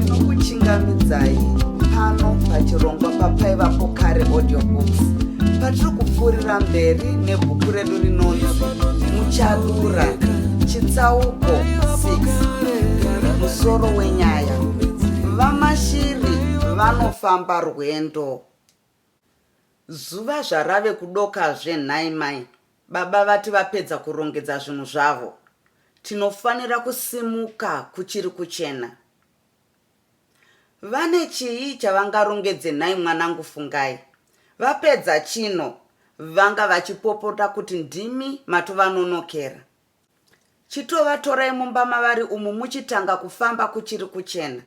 ndinokuchingamidzai pano pachirongwa papaivapo kare audiobooks patiri kupfuurira mberi nebhuku redu rinonzi muchadura chitsauko 6 musoro wenyaya vamashiri vanofamba rwendo Zuva zvarave kudokazve nhai mai baba vati vapedza kurongedza zvinhu zvavo tinofanira kusimuka kuchiri kuchena. Vane chii chavangarongedze nhai mwanangu Fungai vapedza chino vanga vachipopota kuti ndimi matovanonokerq. Chitovatorai mumba mavari umu muchitanga kufamba kuchiri kuchena.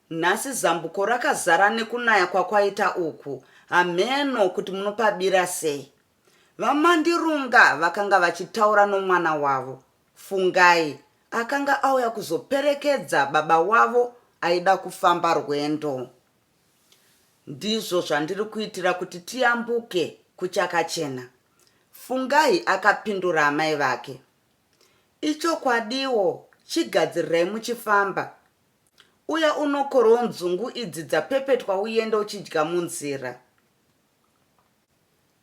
Nhasi zambuko rakazara nekunaya kwakwaita uku hamheno kuti munopabira sei. VaMandirunga vakanga vachitaura nomwana wavo, Fungai, akanga auya kuzoperekedza baba wavo aida kufamba rwendo. Ndizvo zvandiri kuitira kuti tiyambuke kuchakachena, Fungai akapindura amai vake. Ichokwadiwo, chigadzirirai muchifamba. Uya unokorewo nzungu idzi dzapepetwa uende uchidya munzira.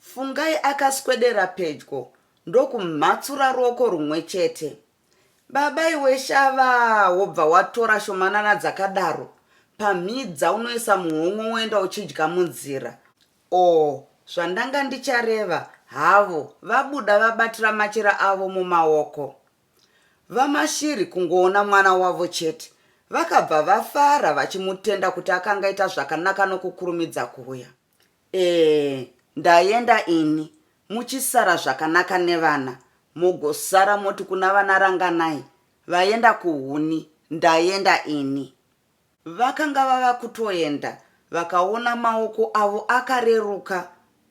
Fungai akaswedera pedyo ndokumhatsura ruoko rumwe chete. Baba iwe shavaa wobva watora shomanana dzakadaro pamhidza unoisa muhomwe woenda uchidya munzira. Or zvandanga ndichareva havo vabuda vabatira machira avo mumaoko. VaMashiri kungoona mwana wavo chete vakabva vafara vachimutenda kuti akangaita zvakanaka nokukurumidza kuuya. Eeh ndayenda ini muchisara zvakanaka nevana mogosara moti kuna vana Ranganai vayenda kuhuni ndayenda ini. Vakanga vava kutoyenda vakaona maoko avo akareruka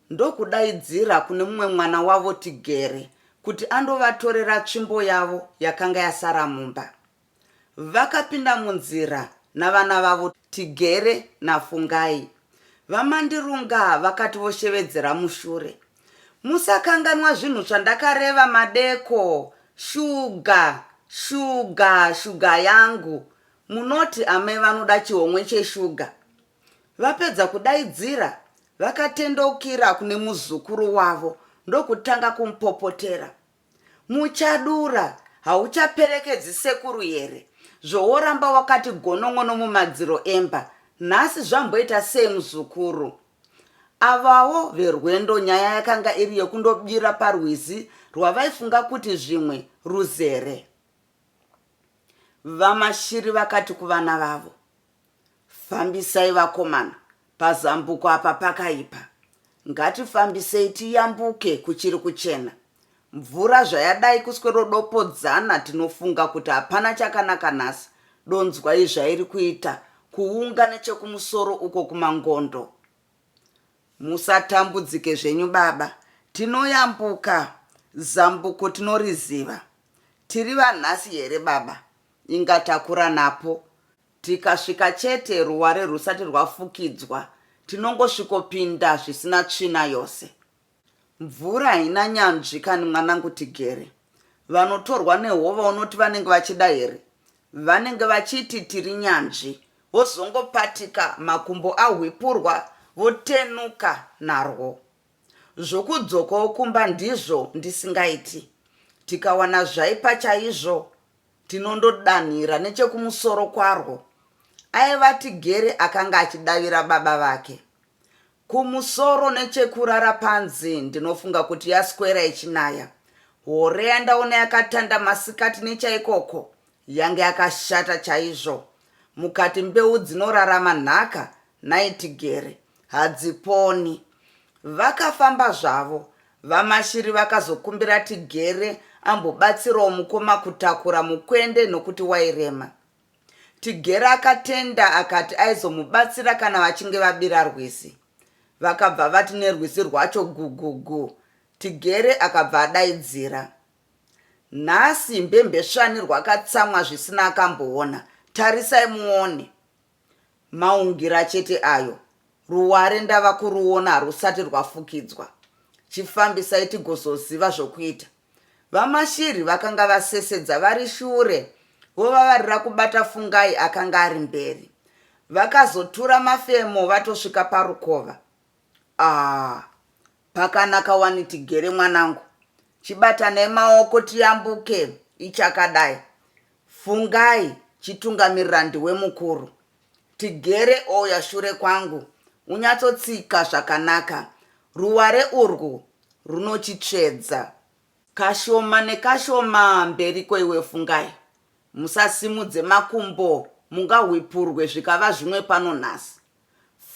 ndokudaidzira kune mumwe mwana wavo Tigere kuti andovatorera tsvimbo yavo yakanga yasara mumba. Vakapinda munzira navana vavo Tigere naFungai. VaMandirunga vakati voshevedzera mushure. Musakanganwa zvinhu zvandakareva madeko. Shuga! Shuga! Shuga yangu! Munoti amai vanoda chihomwe cheshuga? Vapedza kudaidzira, vakatendeukira kune muzukuru wavo ndokutanga kumupopotera. Muchadura hauchaperekedzi sekuru here zvoworamba wakati gonon'ono mumadziro emba nhasi zvamboita sei muzukuru. Avawo veRwendo nyaya yakanga iri yekundobira parwizi rwavaifunga kuti zvimwe ruzere. VaMashiri vakati kuvana vavo. Fambisai vakomana pazambuko apa pakaipa. Ngatifambisei tiyambuke kuchiri kuchena. Mvura zvayadai kuswerodopodzana tinofunga kuti hapana chakanaka nhasi donzwai zvairi kuita kuunga nechekumusoro uko kumangondo. Musatambudzike zvenyu baba tinoyambuka zambuko tinoriziva. Tiri vanhasi here baba inga takura napo Tikasvika chete ruware rwusati rwafukidzwa tinongosvikopinda zvisina tsvina yose. Mvura haina nyanzvi kani mwanangu tigere. Vanotorwa nehova unoti vanenge vachida here? Vanenge vachiti tiri nyanzvi vozongopatika makumbo ahwipurwa votenuka narwo. Zvokudzokawo kumba ndizvo ndisingaiti. Tikawana zvaipa chaizvo Tinondodanhira nechekumusoro kwarwo, aiva Tigere akanga achidavira baba vake. Kumusoro nechekurara panze ndinofunga kuti yaswera ichinaya. Hore yandaona yakatanda masikati nechaikoko yange yakashata chaizvo. Mukati mbeu dzinorarama nhaka nhai Tigere. Hadziponi. Vakafamba zvavo. VaMashiri vakazokumbira Tigere ambobatsirawo mukoma kutakura mukwende nokuti wairema. Tigere akatenda akati aizomubatsira kana vachinge vabira rwizi. Vakabva vati nerwizi rwacho gugugu. Tigere akabva adaidzira. Nhasi mbembesvani rwakatsamwa zvisina akamboona. Tarisai muone. Maungira chete ayo. Ruware ndava kuruona harusati rwafukidzwa. Chifambisai tigozoziva zvokuita. VaMashiri vakanga vasesedza vari shure vovavarira kubata Fungai akanga ari mberi. Vakazotura mafemo vatosvika parukova. Aah Pakanaka wani tigere mwanangu. Chibatanai maoko tiyambuke ichakadai. Fungai chitungamirirandi wemukuru. Tigere oya shure kwangu unyatsotsika zvakanaka. Ruware urwu runochitsvedza. Kashoma nekashoma mberiko iwe Fungai. Musasimudze makumbo mungahwipurwe zvikava zvimwe pano nhasi.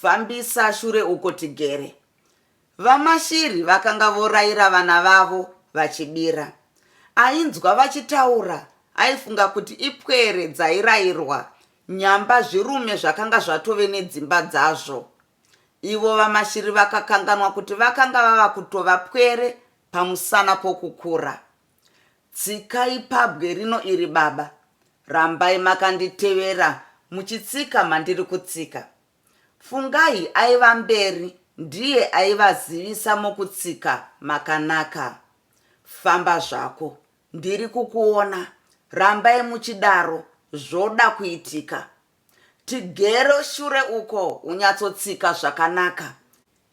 Fambisa shure uko tigere. VaMashiri vakanga voraira vana vavo vachibira. Ainzwa vachitaura aifunga kuti ipwere dzairairwa nyamba zvirume zvakanga zvatove nedzimba dzazvo. Ivo VaMashiri vakakanganwa kuti vakanga vava kutova pwere pamusana pokukura. Tsikai pabwe rino iri baba. Rambai makanditevera muchitsika mandiri kutsika. Fungai aiva mberi ndiye aivazivisa mokutsika makanaka. Famba zvako. Ndiri kukuona. Rambai muchidaro zvoda kuitika. Tigere shure uko unyatsotsika zvakanaka.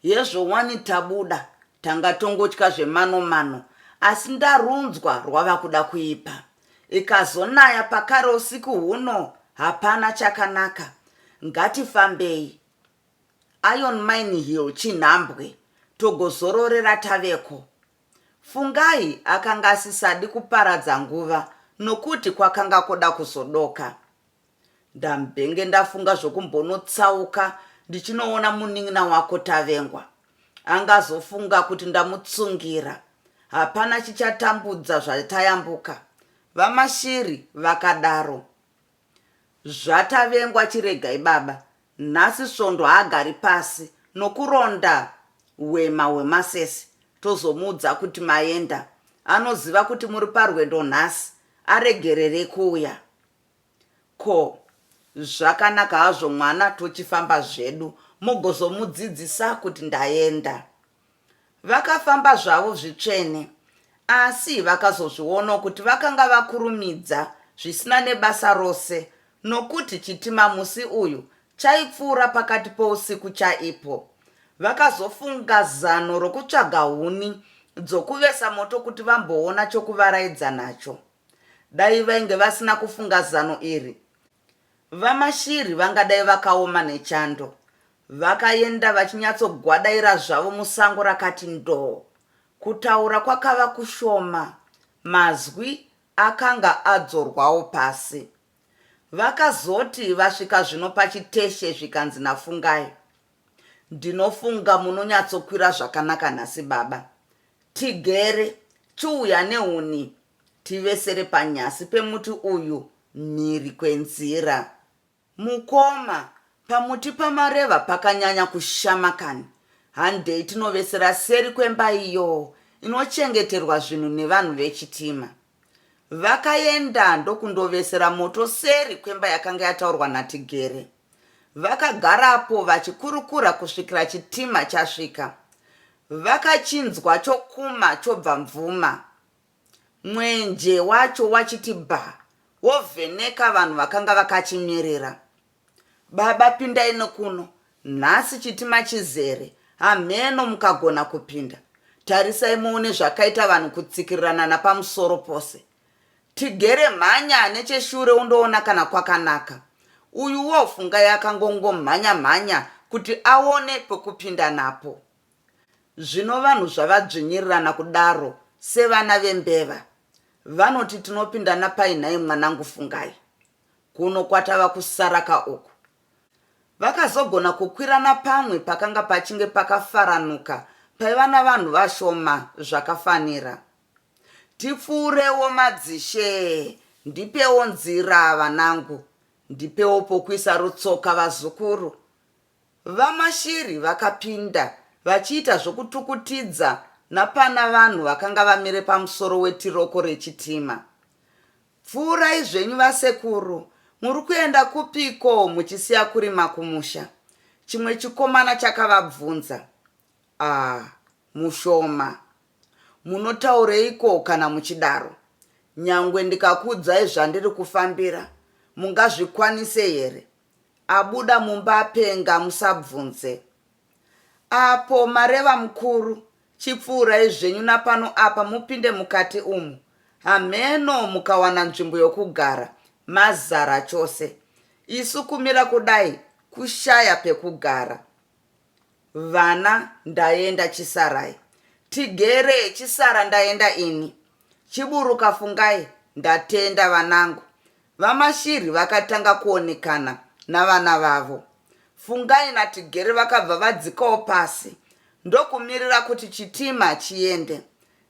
Hezvo wani tabuda tanga tongotya zvemano mano asi ndarunzwa rwava kuda kuipa. Ikazonaya pakare usiku huno hapana chakanaka. Ngatifambei. Iron Mine Hill chinhambwe togozororera taveko. Fungai akanga asisadi kuparadza nguva nokuti kwakanga koda kuzodoka. Ndambenge ndafunga zvokumbonotsauka ndichinoona munin'ina wako Tavengwa. Angazofunga kuti ndamutsungira. Hapana chichatambudza zvatayambuka. VaMashiri vakadaro. ZvaTavengwa chiregai baba. Nhasi Svondo haagari pasi nokuronda hwema hwemasese tozomuudza kuti maenda. Anoziva kuti muri parwendo nhasi. Aregererei kuuya. Ko zvakanaka hazvo mwana tochifamba zvedu mugozomudzidzisa kuti ndaenda. Vakafamba zvavo zvitsvene asi vakazozvionawo kuti vakanga vakurumidza zvisina nebasa rose nokuti chitima musi uyu chaipfuura pakati pousiku chaipo. Vakazofunga zano rokutsvaga huni dzokuvesa moto kuti vamboona chokuvaraidza nacho. Dai vainge vasina kufunga zano iri VaMashiri vangadai vakaoma nechando. Vakaenda vachinyatsogwadaira zvavo musango rakati ndoo. Kutaura kwakava kushoma, mazwi akanga adzorwawo pasi. Vakazoti vasvika zvino pachiteshe zvikanzi naFungai. Ndinofunga munonyatsokwira zvakanaka nhasi baba. Tigere, chiuya nehuni tivesere panyasi pemuti uyu mhiri kwenzira. Mukoma, pamuti pamareva pakanyanya kushama kani. Handei tinovesera seri kwemba iyo inochengeterwa zvinhu nevanhu vechitima. Vakaenda ndokundovesera moto seri kwemba yakanga yataurwa naTigere. Vakagarapo vachikurukura kusvikira chitima chasvika. Vakachinzwa chokuma chobva mvuma. Mwenje wacho wachiti bha, wovheneka vanhu vakanga vakachimirira. Baba pindai nekuno nhasi chitima chizere hamheno mukagona kupinda tarisai muone zvakaita vanhu kutsikirirana napamusoro pose tigere mhanya necheshure undoona kana kwakanaka uyuwo fungai akangongomhanya mhanya kuti aone pekupinda napo zvino vanhu zvavadzvinyirirana kudaro sevana vembeva vanoti tinopinda napai nhai mwanangu fungai Kuno kwatava kusara ka uku. Vakazogona kukwira napamwe pakanga pachinge pakafaranuka paiva navanhu vashoma zvakafanira. Tipfuurewo madzishe ndipewo nzira vanangu, ndipewo pokuisa rutsoka vazukuru. VaMashiri vakapinda vachiita zvokutukutidza napana vanhu vakanga vamire pamusoro wetiroko rechitima. Pfuurai zvenyu vasekuru muri kuenda kupiko muchisiya kurima kumusha? chimwe chikomana chakavabvunza Ah mushoma munotaureiko kana muchidaro? nyangwe ndikakuudzai zvandiri kufambira mungazvikwanise here? abuda mumba apenga musabvunze Apo mareva mukuru Chipfuurai zvenyu napano apa mupinde mukati umu hamheno mukawana nzvimbo yokugara mazara chose isu kumira kudai kushaya pekugara vana ndaenda chisarai tigere chisara ndaenda ini chiburuka fungai ndatenda vanangu VaMashiri vakatanga kuonekana navana vavo, Fungai naTigere vakabva vadzikawo pasi ndokumirira kuti chitima chiende.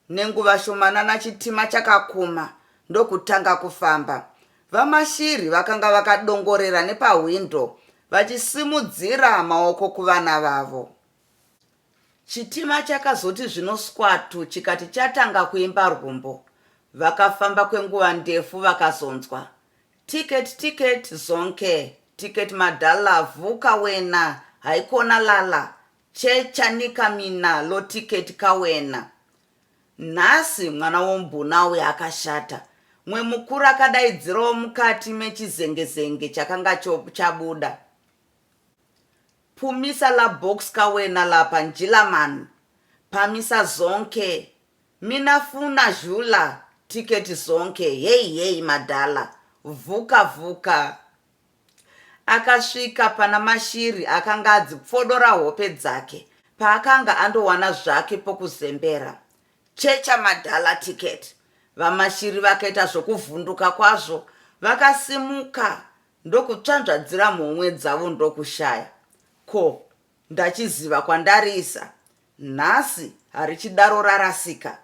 Nenguva shomanana chitima chakakuma ndokutanga kufamba. VaMashiri vakanga vakadongorera nepahwindo vachisimudzira maoko kuvana vavo. Chitima chakazoti zvino skwatu chikati chatanga kuimba rwumbo. Vakafamba kwenguva ndefu vakazonzwa Ticket ticket Zonke ticket madhala Vuka wena haikona lala Che chanika mina lo ticket ka wena Nhasi mwana wombuna uya akashata Mwe mukuru akadaidzirawo mukati mechizengezenge chakanga chabuda. Pumisa la box ka wena lapa Njilaman pamisa zonke Mina funa zhula ticket zonke hey hey madhala vhuka vhuka Akasvika pana Mashiri akanga adzi pfodora hope dzake paakanga andowana zvake pokuzembera Checha madhala ticket VaMashiri vakaita zvokuvhunduka kwazvo vakasimuka ndokutsvanzvadzira mhomwe dzavo ndokushaya ko ndachiziva kwandariisa nhasi harichidaro rarasika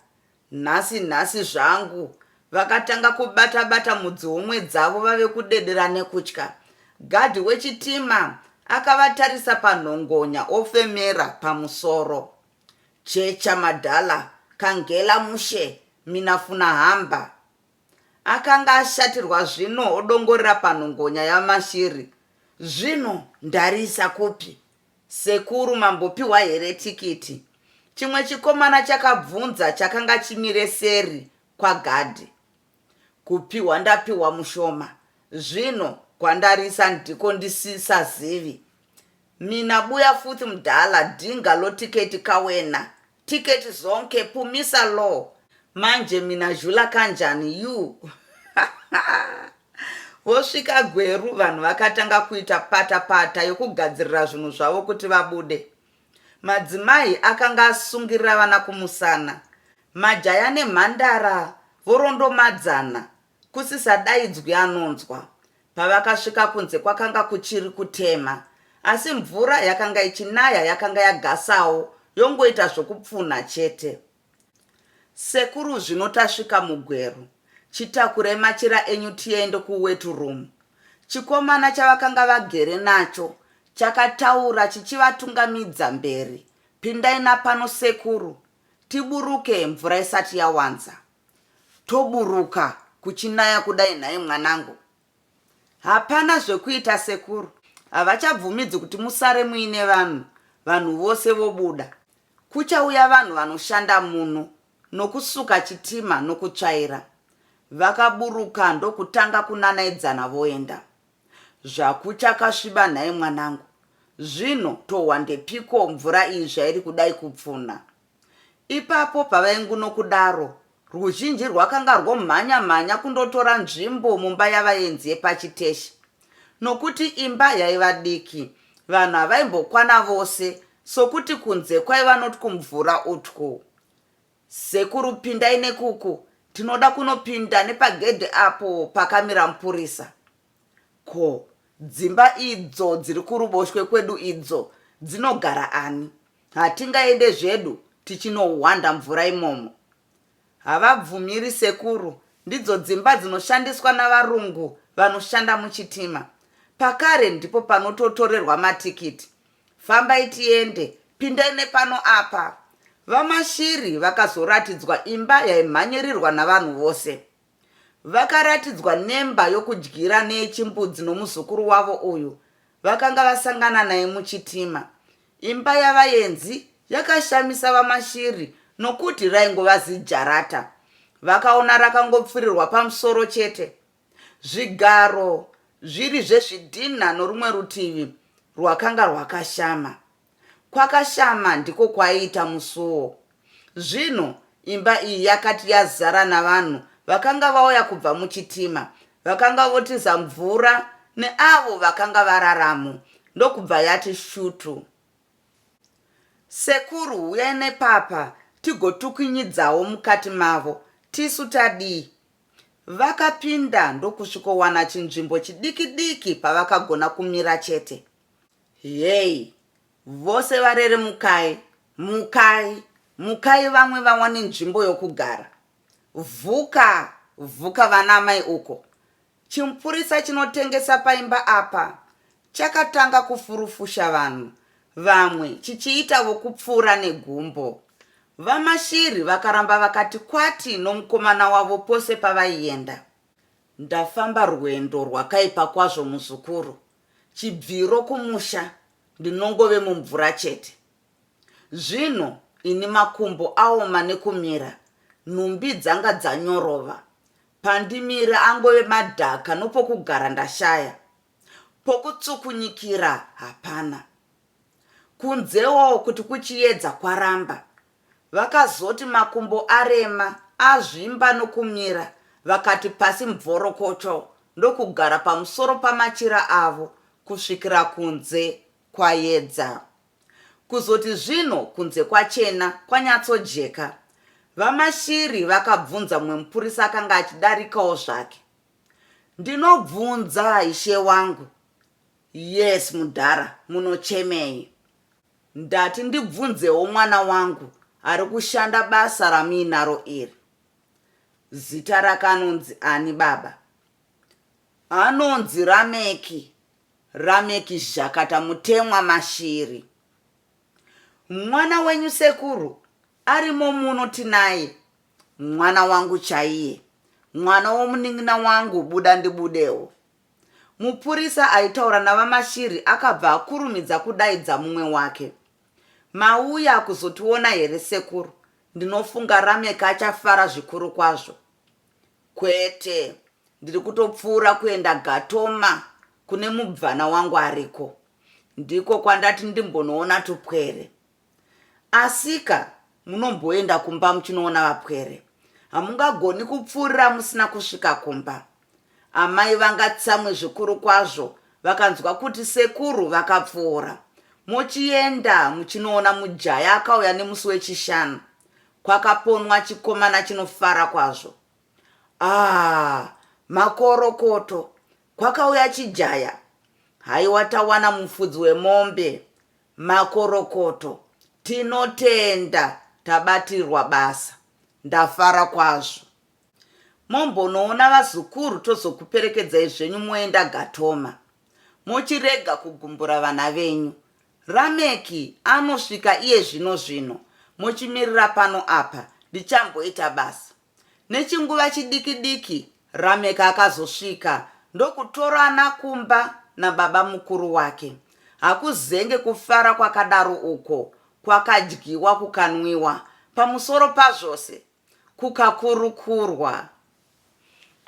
nhasi nhasi zvangu vakatanga kubata bata mudzihomwe dzavo vave kudedera nekutya gadhi wechitima akavatarisa panhongonya ofemera pamusoro checha madhala kangela mushe minafuna hamba Akanga ashatirwa zvino odongorera panhongonya yaMashiri Zvino ndariisa kupi? Sekuru mambopiwa here tikiti? Chimwe chikomana chakabvunza chakanga chimire seri kwagadhi Kupiwa ndapiwa mushoma zvino kwandariisa ndiko ndisisazivi Mina buya futhi mdala dinga lotiketi kawena Ticket zonke pumisa law manje minazhula kanjani you vosvika gweru vanhu vakatanga kuita pata pata yokugadzirira zvinhu zvavo kuti vabude madzimai akanga asungirira vana kumusana majaya nemhandara vorondomadzana Kusisadaidzwi anonzwa. Pavakasvika kunze kwakanga kuchiri kutema asi mvura yakanga ichinaya yakanga yagasawo yongoita zvokupfunha chete. Sekuru zvino tasvika mugweru. Chitakurei machira enyu tiende kuwet room. Chikomana chavakanga vagere nacho chakataura chichivatungamidza mberi. Pindai napano sekuru tiburuke mvura isati yawanza. Toburuka kuchinaya kudai nhai mwanangu. Hapana zvekuita sekuru havachabvumidzi kuti musare muine vanhu vanhu vose vobuda. Kuchauya vanhu vanoshanda muno nokusuka chitima nokutsvaira. Vakaburuka ndokutanga kunanaidzana voenda. Zvakuchakasviba nhai mwanangu. Zvino tohwa ndepiko mvura iyi zvairi kudai kupfunha. Ipapo pavainguno kudaro, ruzhinji rwakanga rwomhanya mhanya kundotora nzvimbo mumba yavaenzi yepachiteshi. Nokuti imba yaiva diki, vanhu havaimbokwana vose sokuti kunze kwaiva notwumvura utwu. Sekuru pindai nekuku, tinoda kunopinda nepagedhe apo pakamira mupurisa. Ko, dzimba idzo dziri kuruboshwe kwedu idzo dzinogara ani? Hatingaende zvedu tichinohwanda mvura imomo. Havabvumiri sekuru, ndidzo dzimba dzinoshandiswa navarungu vanoshanda muchitima. Pakare ndipo panototorerwa matikiti. Fambai tiende, pindai nepano apa. VaMashiri vakazoratidzwa imba yaimhanyirirwa navanhu vose. Vakaratidzwa nemba yokudyira neyechimbudzi nomuzukuru wavo uyu vakanga vasangana naye muchitima. Imba yavaenzi yakashamisa VaMashiri nokuti raingova zijarata. Vakaona rakangopfirirwa pamusoro chete, zvigaro zviri zvezvidhinha norumwe rutivi rwakanga rwakashama. Kwakashama ndiko kwaiita musuwo. Zvino imba iyi yakati yazara navanhu vakanga vauya kubva muchitima, vakanga votiza mvura neavo vakanga vararamo, ndokubva yati shutu. Sekuru, huyai nepapa tigotukinyidzawo mukati mavo, tisu tadii? Vakapinda ndokusvikowana chinzvimbo chidiki-diki pavakagona kumira chete. Hey vose varere mukai mukai mukai vamwe vawane nzvimbo yokugara vhuka vhuka vana amai uko chimupurisa chinotengesa paimba apa chakatanga kufurufusha vanhu vamwe chichiita vokupfuura negumbo vamashiri vakaramba vakati kwati nomukomana wavo pose pavaienda ndafamba rwendo rwakaipa kwazvo muzukuru Chibviro kumusha ndinongove mumvura chete. Zvino ini makumbo aoma nekumira, nhumbi dzanga dzanyorova. Pandimira angove madhaka nopokugara ndashaya. Pokutsukunyikira hapana. Kunzewo kuti kuchiyedza kwaramba Vakazoti makumbo arema, azvimba nokumira, vakati pasi mvorokocho ndokugara pamusoro pamachira avo kusvikira kunze kwayedza. Kuzoti zvino kunze kwachena, kwanyatsojeka, VaMashiri vakabvunza mumwe mupurisa akanga achidarikawo zvake. Ndinobvunza, ishe wangu. Yes, mudhara, munochemei? Ndati ndibvunzewo mwana wangu ari kushanda basa ramuinaro iri. Zita rake anonzi ani baba? Anonzi Rameki, Rameki Zhakata Mutemwa Mashiri. Mwana wenyu sekuru arimo muno tinaye, mwana wangu chaiye, mwana womunin'ina wangu buda ndibudewo. Mupurisa aitaura naVaMashiri akabva akurumidza kudaidza mumwe wake. Mauya kuzotiona here sekuru? Ndinofunga Rameck achafara zvikuru kwazvo. Kwete, ndiri kutopfuura kuenda Gatoma kune mubvana wangu ariko. Ndiko kwandati ndimbonoona tupwere. Asika munomboenda kumba muchinoona vapwere. Hamungagoni kupfuurira musina kusvika kumba. Amai vanga tsamwe zvikuru kwazvo vakanzwa kuti sekuru vakapfuura. Mochienda muchinoona mujaya akauya nemusi weChishanu. Kwakaponwa chikomana chinofara kwazvo. Aah makorokoto! Kwakauya chijaya? Haiwa tawana mufudzi wemombe. Makorokoto tinotenda tabatirwa basa ndafara kwazvo mombonoona vazukuru tozokuperekedzai zvenyu moenda gatoma mochirega kugumbura vana venyu rameki anosvika iye zvino zvino mochimirira pano apa ndichamboita basa Nechinguva chidiki diki Rameck akazosvika ndokutorana kumba nababa mukuru wake. Hakuzenge kufara kwakadaro uko, kwakadyiwa kukanwiwa, pamusoro pazvose kukakurukurwa.